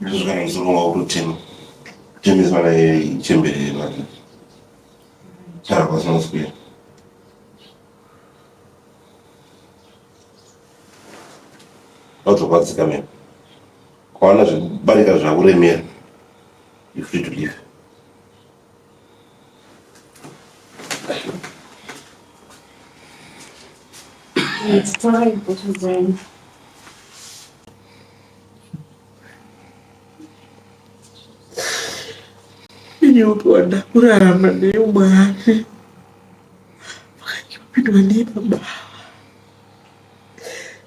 ndozvikaita kuzoronga kutotema kutemesa vana chembere vana tara kwasina kuswera vazokwadzika mene kwaona zvekubarika zvakuremera you free to live Nyoka wadakurarama neyo mwari vakanyopindwa neye pababa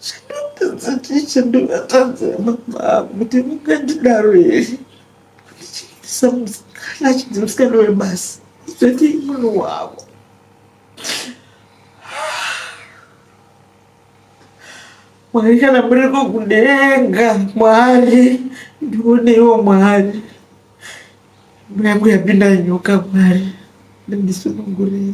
zvinopedza tiche ndivatadzema baba kuti mungandidaro here ndichiitisa musikana achinzi musikana webasa zoti munhu wavo mwari kana muriko kudenga mwari ndioneiwo mwari mweyangu yapinda nyoka mwari ndindisunungurei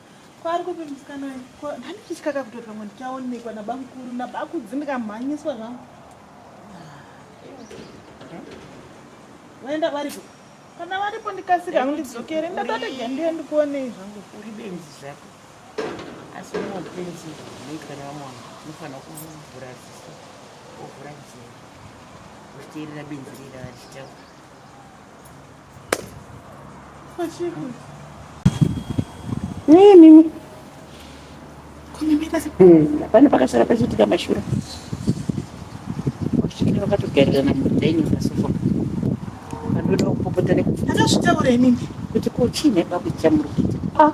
Kwari kupi musikana uyu? Ko handichitya kakutoti pamwe ndichaonekwa nabamukuru nabakudzi ndikamhanyiswa zvangu. Vaenda varipo. Kana varipo ndikasika hangu ndidzokere ndatatega ndiye ndikuonei zvangu. Uri benzi zvako. Asi umwe upenzi unoitwa nevamwe vanhu unofanira kuvhura ziso wovhura nzira uchiteerera benzi rira vachitaura. Hey, mimi pane pakasara pachiitika mashura vakasvika vakatogarirana mudhaini pasofa vandoda kupopota nekuzvitaura imimi kuti ko chii nebaba chamuri kuita ah,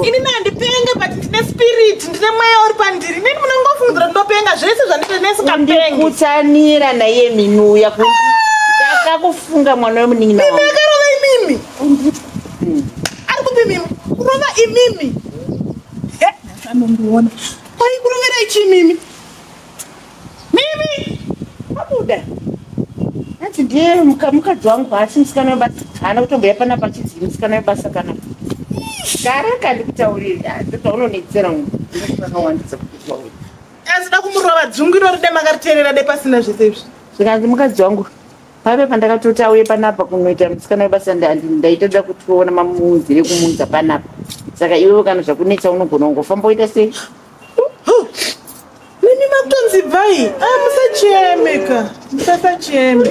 ini nandipenge but ndine spirit ndine mweya uri pandiri inini munongofungira ndinopenga zvese zvandite nesikapengekutsanira naye mimi uya ndakakufunga mwana wemunin'ina akarova imimi ari kupi mimi kurova imimi anomuona paikurovera ichi mimi Mimi abuda hanzi ndiye mukadzi wangu haasi musikana webasa haana kutomboya pana pachizii musikana webasa kana gara kandi kutauriri ndotaura unonetsera ungu ndozvakawandisa kutaurira asida kumurova dzungu irori de makariterera de pasina zvese izvi zvikanzi mukadzi wangu pave pandakatoti auye panapa kunoita musikana webasa ndaitadza kutiona mamuunzire kumuunza panapa saka iwewe kana zvakunetsa unogona kungofamba woita sei Nemi makutonzi bvai. Ah, musacheme ka. Musasacheme.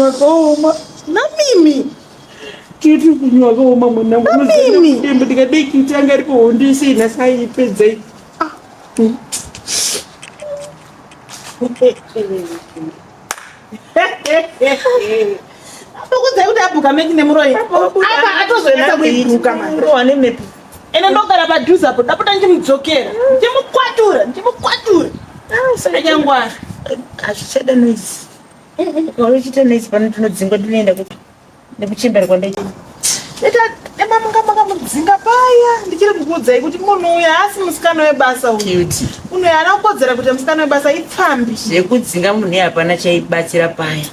Wakaoma. Na mimi. Kiti kunyi wakaoma mwana mwana. Na mimi. Ndembo ndikadai kiti anga ariko hondo isi inasa ipedza iyi. Ah. Mm. Ndokudzai kuti abhuka meki nemuroyi. Apa atozoendesa kuibhuka manje. Wane mepi. Ene ndogara padhuze apo ndapota ndimudzokera. Ndimukwatura, ndimukwatura. Ah, Anyangwara. Azvichada noise. Wari uchita noise pano tinodzingwa tinoenda kupi? nekuchemberwa ndechii ita ema munga makamudzinga paya ndichiri kukuudzai kuti munhu uyu haasi musikana webasa uyu munhu uyu haana kukodzera kuita musikana webasa ipfambi zvekudzinga munhu uyu hapana chaibatsira paya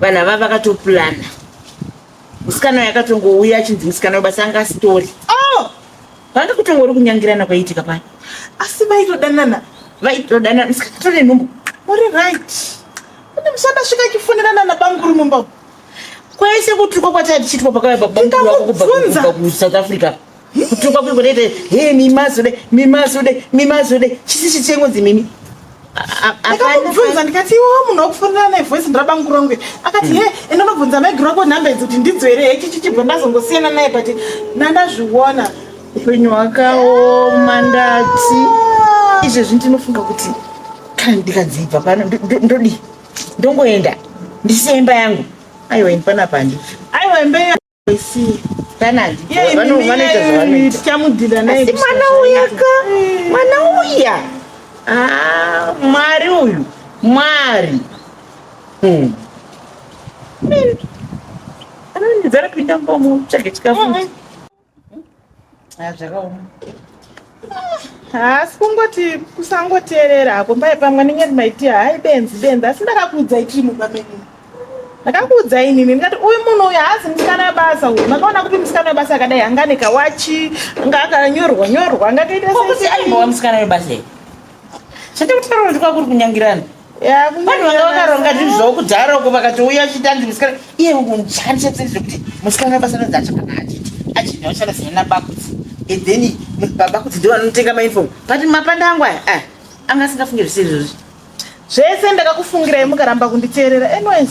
vanhu ava vakatopurana musikana uyu akatongouya achinzi musikana webasa anga asitori oh! vanga kutongori kunyangirana kwaiitika paya asi vaitodanana vaitodanana musikana tore nhumbu muri right kune musandasvika chifunirana nabanguru mumba kwese kutukwa kwatanga tichiitwa pakauya babamwako kubva kusouth africa kutukwa kuiko ndaite he mimasude mimasude mimasude chisi chichengozi mimi akamubvunza ndikati iwo munhu wakufonera naye voice ndirabanguru rangu akati he enda unobvunza maigiro ako nhamba idzi kuti ndidzo here he chichichibva ndazongosiyana naye but nandazviona upenyu hwakaoma ndati izvezvi ndinofunga kuti kana ndikanzi ibva pano ndodii ndongoenda ndisiye imba yangu aiwa ini panapa handi aiwa imba yangu isiye asi mwana uya ka mwana uya ah, mwari uyu mwari hmm. anondidzara pinda mbomu tsvage chikafu zvakaoma haasi kungoti kusangoteerera hako mbai pamwe ndinge ndimaitia hai benzi benzi asi ndakakuudzai chii mumba menyu ndakakuudzai nini ndikati uyu munhu uyu haazi musikana webasa uyu makaona kupi musikana webasa akadai anga ane kawachi anga akanyorwa nyorwa anga akaita musikana webasa zvandikutaura ndikwa kuri kunyangirana vanhu vanga vakaronga zvinhu zvavo kudhara uko vakatouya achiita ndi musikana iye unjanchetsei zvekuti musikana basa ranzi achakana achiti achiti achada sina nabakudzi and then babakudzi ndo vanotenga mainfom but mapanda angu aya eh, anga asingafunge zvisiri zvozvi zvese ndakakufungirai mukaramba kunditeerera anyways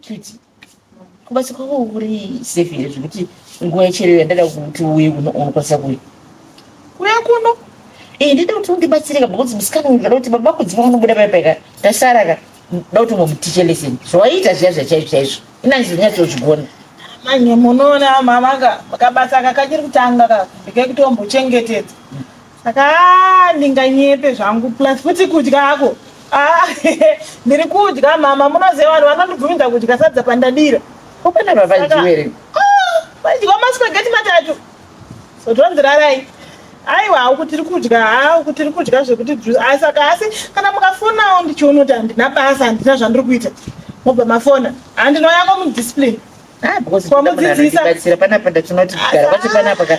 Kiti, kubasa kwako kuri safe here zvekuti nguva yecherero yandada kuti uye kuno unokwanisa kuuya kuya kuno ee ndida kuti undibatsirika because musikana uyu ndada kuti baba kudziva vanobuda paya paika tasara ka nda kuti ungomutiche lesson zvawaiita zviya zvachaizvo chaizvo inanzi ndinyatsozvigona manje munoona mama ka kabasa kakachiri kutanga ka ndikekutombochengetedza saka ndinganyepe zvangu plus futi kudya ako ah, ndiri kudya mama munoziva vanhu vanondibvumidza kudya sadza pandadira kupenda vavaijiwere ah, vaidyiwa maspageti matatu so tonzi rarai aiwa hauku tiri kudya hauku tiri kudya zvekuti ah, saka asi kana mukafonawo ndichiona kuti handina basa handina zvandiri kuita mobva mafona handinoyako mudiscipline ah, kwamudzidzisa panapa ndatinoti kugara kwacho panapa ka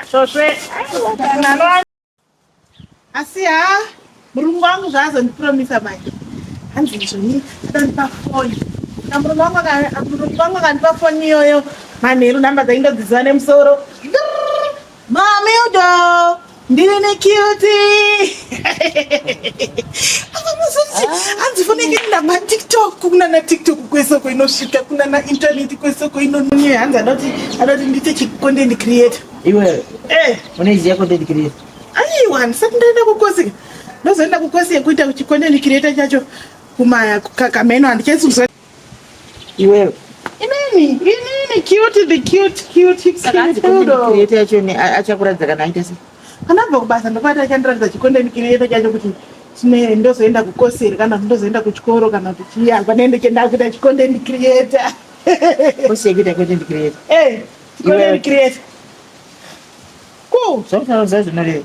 Asvosve. Asi ha murungu wangu zvaazondipromisa manje. Hanzi njoni akandipa foni. Na murungu wangu aka- murungu wangu akandipa foni iyoyo. Manheru nhamba dzaindodziziva nemusoro. Mami udo. ndine cute akamuzoti ah. hanzi foneke ndama tiktok kunana tiktok kwesoko inosvika kunana intaneti kwesoko inonye hanzi adati adati ndiite chicontent creator iwe eh. unoiziva content creator aiwa ndisati ndaenda kukosika ndozoenda kukosika kuita chicontent creator chacho kumaya kakameno handichaisuzwa Iwewe. Inini, inini cute the cute cute hips cute dodo. Create yacho ni achakuratidza kana aita sei. Anabva kubasa ndopata achandiratidza chikonde create chacho kuti chine ndozoenda kukoseri kana kuti ndozoenda kuchikoro kana kuti chiya panende chenda kuita chikonde create. Kose kuita content create. Eh, chikonde create. Cool. Zvakutaura zvacho zvinoreva.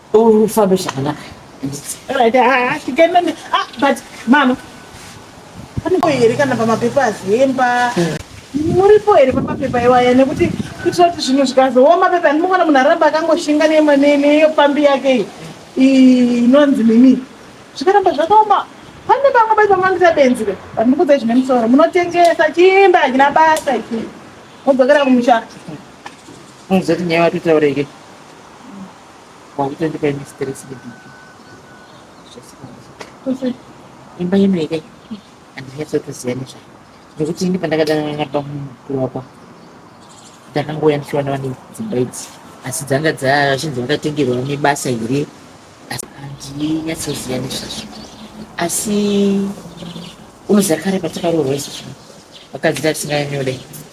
ufambe zvakanaka ah, ah, but mama panipo here kana pamapepa azemba muripo here pamapepa iwaya nekuti kuitira kuti zvinhu zvikazooma pepa andimuona munhu aramba akangoshinga neyo pambi yake inonzi nini zvikaramba zvakaoma pane vamwe bai vamangisa benzi ve vandikudzai zvine musoro munotengesa chimba hachina basa ichi modzokera kumusha muzoti nyaya watotaureke Wakutondipa ini stress neBP. Zvese imba ino here handinyatsotoziva nezvayo nekuti ini pandakadana napa mukuru wako ndakangouya ndichiona vane dzimba idzi asi dzanga dzavachinzi vakatengerwa nebasa here asi handinyatsoziva nezvazvo asi unoziva kare patakaroorwa isu zvino vakadzi tatisinganyanyodai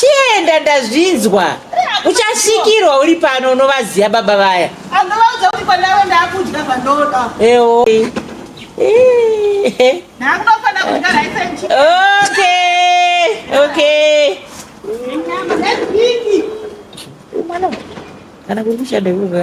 chienda ndazvinzwa uchasvikirwa uri pano unovaziva baba vaya ewo kana kuri kushanda ivoka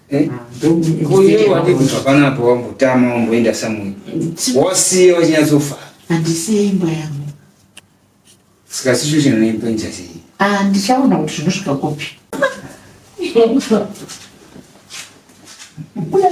Eh? Uyu wati kuti hapana apo wambotama wamboenda samwe. Wasiye wachinyatsofa. Handisiye imba yangu. Saka sicho chinoimba njasi. Ah, ndichaona kuti zvinosvika kupi. Uya.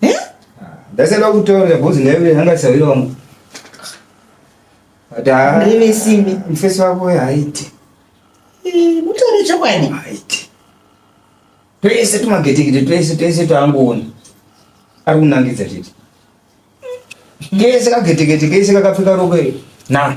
Eh? Ndasaba kutaura bozi naye anga sawira wangu. Ata. Ndimi simi. Mfesi wako haiti. Eh, mutore chokwadi. Haiti. Twese tumagetekete twese twese twangoona. Ari kunangidza tete. Kese kagetekete kese kakapfeka rokwe. Na.